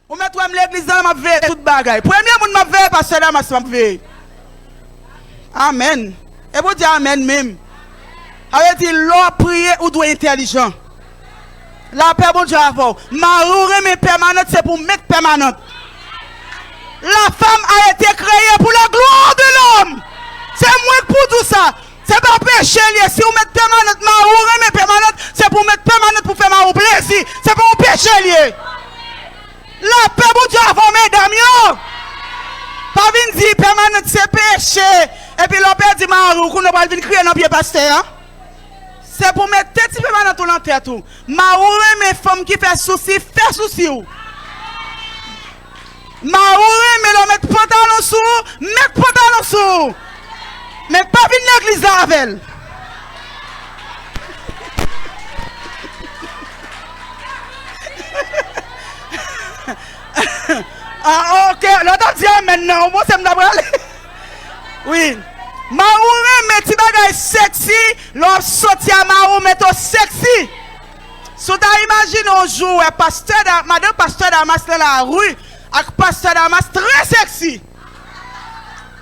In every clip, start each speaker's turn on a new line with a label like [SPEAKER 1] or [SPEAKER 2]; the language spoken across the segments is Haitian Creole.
[SPEAKER 1] Ou mèt wèm legliz nan map veye tout bagay premye moun map veye pastè damas map veye amen epi ou di amen menm sa vle di lè wap priye ou dwe entèlijan lapè Bondye avèw mariw renmen pèmanant se pou mèt pèmanant la femme a été créée pour la gloire de l'homme se mwen k pou di w sa. Se pa peche l ye si ou met pèmanant mari ou renmen pèmanant se pou met pèmanant pou fè mari w plezi se pa yon peche l ye lapè Bondye avèw medam yo pa vin di pèmanant se peche epi lè w pèdi mari w kounye w pral vin kriye nan pye pastè a se pou mete ti pèmanant ou nan tèt ou mari w renmen fanm ki fè sousi fè sousi w. Ma ou renmen lè w met pantalon sou ou, met pantalon sou ou. Men pa vin legliz la avè l. A ok, lè w t ap di amèn nan, ou panse m t ap rale? Wi. Ma ou renmen ti bagay seksi, lè w ap soti a ma ou met ou seksi. Si w ta imajine yon jou ou wè pastè madan pastè Damas nan lari ak pastè Damas trè sexy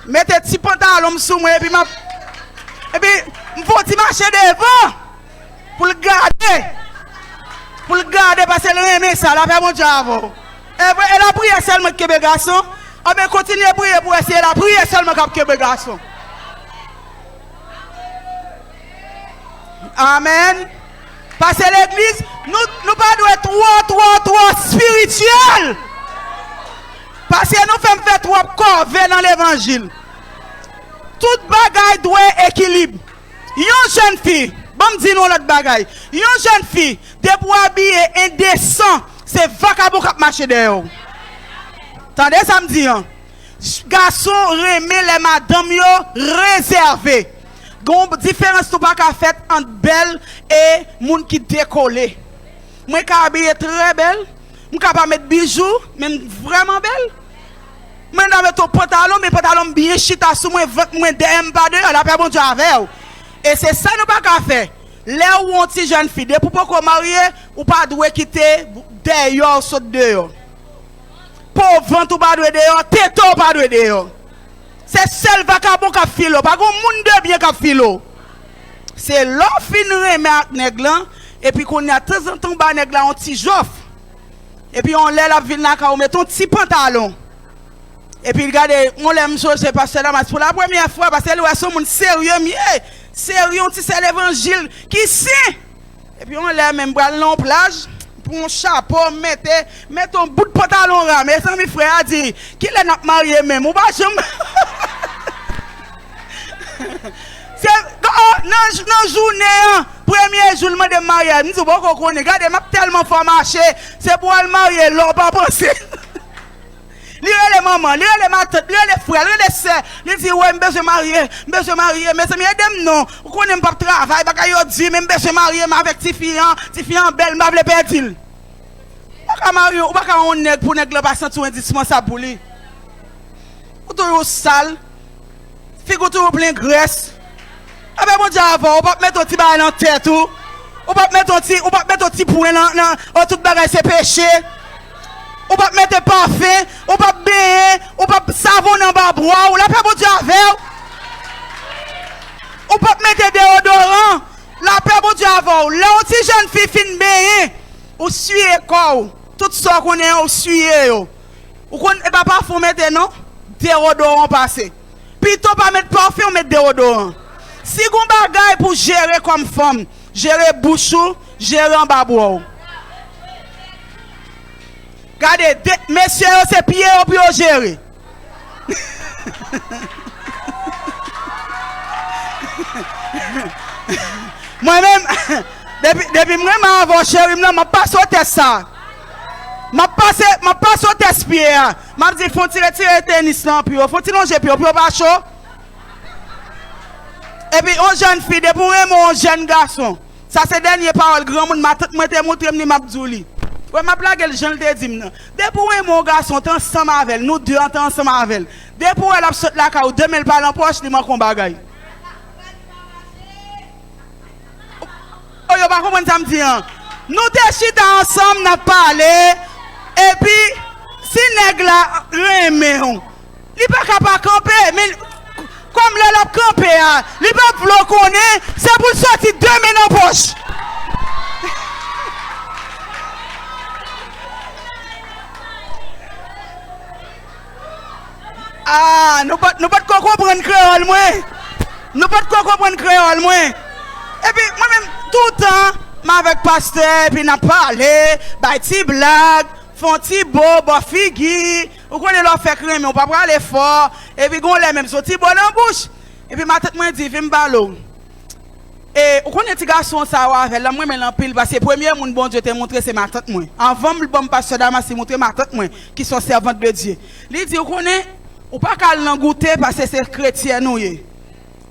[SPEAKER 1] mete ti pantalon m sou mwen epi m ap epi m fon ti mache devan pou l gade pou l gade pase l renmen sa lapè Bondye avè w evre e lapriyè sèlman k kenbe gason anben kontinye priye pou wè si e lapriyè sèlman kap kenbe gason amen. Pase legliz, nou pa dwe twò twò twò spirityèl. Pase nou fèm fè twòp kòve nan levanjil. Tout bagay dwe ekilib. Yon jèn fi, banm di nou yon lòt bagay, yon jèn fi depi w abiye endesan se vakabon k ap mache dèyè w. Tande sa m di an. Gason renmen lè madanm yo rezève. Gen yon diferans tou pa ka fèt ant bèl e moun ki dekole. Mwen ka abiye trè bèl, m ka pa met bijou, men m vrèman bèl. Mwen ta met yon pantalon, men pantalon m byen chita sou mwen, vant mwen dèyè m pa deyò, lapè Bondye avè w. E se sa nou pa ka fè. Lè ou yon ti jèn fi, depi w poko marye, ou pa dwe kite dèyè w sot deyò. Po vant ou pa dwe deyò, tete w pa dwe deyò. Se sel vakabon kap filo pa gon moun de byen kap filo se lè w fin renmen ak nèg lan epi kounya tanzantan w ba nèg la yon ti jòf epi yon lè lap vin lakay w met yon ti pantalon epi l gade yon lè m sonje pastè Damas pou la premyè fwa paske l wè son moun serye m ye serye yon ti sè levanjil ki sen Epi yon lè menm pral nan yon plaj, pran yon chapo mete, mete yon bout pantalon ra. Mezanmi frè a di, kilè nap marye menm? Ou pa janm Se nan jounen an, premye jou li mande m maryaj, m di ou poko konnen, gade map tèlman fè w mache, se pou w al marye lè w pa panse. Li rele manman, li rele matant, li rele frè, li rele sè, li di woy m bezwen marye, m bezwen marye, mezanmi ede m non, ou konnen m p ap travay, bagay yo di men m bezwen marye m avèk tifi an, tifi an bèl m pa vle pèdi l. Ou pa ka marye, ou pa ka yon nèg pou nèg lan pa santi w endispansab pou li. Ou toujou sal. Fig ou toujou plen grès. Ebyen Bondye avè w, ou pap mete yon ti bagay nan tèt ou, ou pap mete yon ti, ou pap mete yon ti pwen nan, nan, oh tout bagay se peche, ou pap mete pafen, ou pap benyen, ou pap savonnen anba bwa w, lapè Bondye avè w. Ou pap mete deyodoran, lapè Bondye avè w. Lè yon ti jèn fi fin benyen, ou siye kò w, tout sa w konnen an ou siye yo. Ou konn epa parfum w mete non derodoran w pase pito pa met parfum met derodoran si gon bagay pou jere kòm fanm jere bouch ou jere anba bwa w gade de mesye yo se pye yo pou yo jere mwen menm depi m renmen avè w cheri m nan map pase w tès sa. M ap pase, m ap pase otès pye a, m ap di, fon ti retire tenis lan pou yo, fon ti lonje pou yo, pou yo pa cho. Epi on jèn fi, depi ou renmen on jèn gason, sa se dènye pawòl granmoun matant mwen te montre m li m ap di w li. Wè m ap lage l jan l te di m nan. Depi ou renmen on gason, ou te ansanm avè l, nou de an te ansanm avè l. Depi ou wè l ap sot lakay ou, 2 men l pa lan pòch li manke on bagay. Oh yo pa konprann sa m di an. Nou te chita ansanm nap pale epi si nèg la renmen w li pa ka pa kanpe men kòm lè lap kanpe a li pap vle w konnen se pou l soti 2 men nan pòch. Aah nou pa nou patko konprann kreyòl mwen nou patko konprann kreyòl mwen epi mwen menm toutan m avèk pastè epi n ap pale bay ti blag fon ti bo bo figi ou konnen lè w fèk renmen w pa prale fò epi gon lè menm son ti bo nan bouch epi matant mwen di vin m pale w E ou konnen ti gason sa ou avèl la m renmenl anpil paske premye moun Bondye te moutre se matant mwen anvanm l banm pastè Damas li moutre matant mwen ki son sèvant de Dye li di ou konnen ou pa ka al nan goute paske se kretyèn ou ye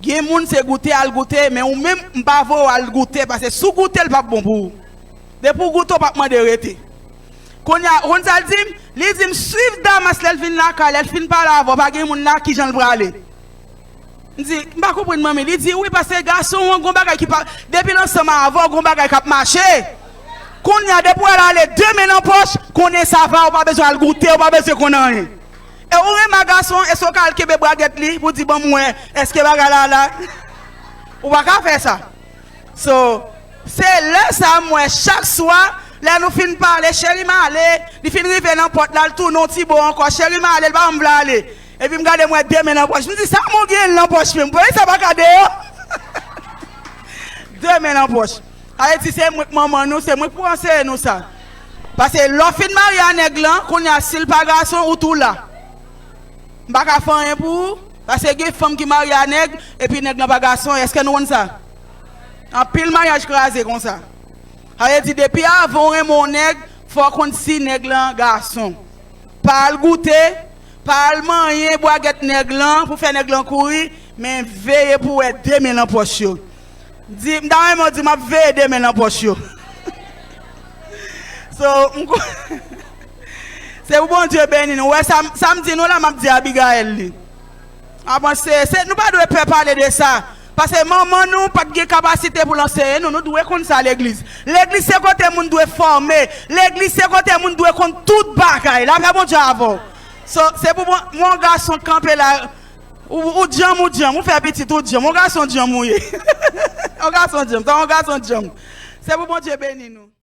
[SPEAKER 1] gen moun se goute al goute men ou menm m pa voye w al goute paske si w goute l pap bon pou ou depi w goute ou pap mande rete kounye a ou konn sa l di m li di m swiv Damas lè l vin lakay lè l fin pale avè w pa gen moun la kijan l prale. M di, m pa konprann manmi. Li di, wi paske gason an gon bagay ki pa, depi l ansanm avè w gon bagay k ap mache. Kounye a depi w wè l ale de men nan pòch, konnen sa va ou pa bezwen al goute, ou pa bezwen konn anyen. E ou renma gason an èske w ka al kenbe bragèt li pou w di ban m wè èske bagay la la? Ou pa ka fè sa. So, se lè sa m wè chak swa lè nou fin pale cheri m ale, li fin rive nan pòt la l tounen yon ti bo ankò cheri m ale l pa ban m vle ale. Epi m gade m wè 2 men nan pòch. M di sa mwen genyen nan pòch menm. Bwè sa pa ka deyò. 2 men nan pòch. Sa di se mwen k manman nou, se mwen k pou anseye nou sa. Pase lè w fin marye a nèg lan, kounye a si l pa gason ou tou la. M pa ka fè anyen pou ou. Pase gen fanm ki marye a nèg, epi nèg lan pa gason. Eske nou konn sa? Anpil maryaj kraze konsa. Sa vle di depi avan w renmen yon nèg, fò w konn si nèg lan gason. Pa al goute, pa al manyen bwagèt nèg lan pou fè nèg lan kouri, men veye pou wè de men nan pòch yo. Di, m ta renmen w di, m ap veye de men nan pòch yo. So, m kwè. Se pou Bondye beni nou. Ou wè sa m di nou la, m ap di Abigaël li. Avanse, se nou pa dwe pè pale de sa. Pase manman nou pat gen kapasite pou l anseye nou, nou dwe konn sa legliz. Legliz se kote moun dwe fòme, legliz se kote moun dwe konn tout bagay. Lapè Bondye avè w. So, se pou bon, m wè yon gason kanpe la, ou djanm ou djanm, ou fè pitit ou djanm, yon gason djanm ou ye. Yon gason djanm, sa yon gason djanm. Se pou Bondye beni nou.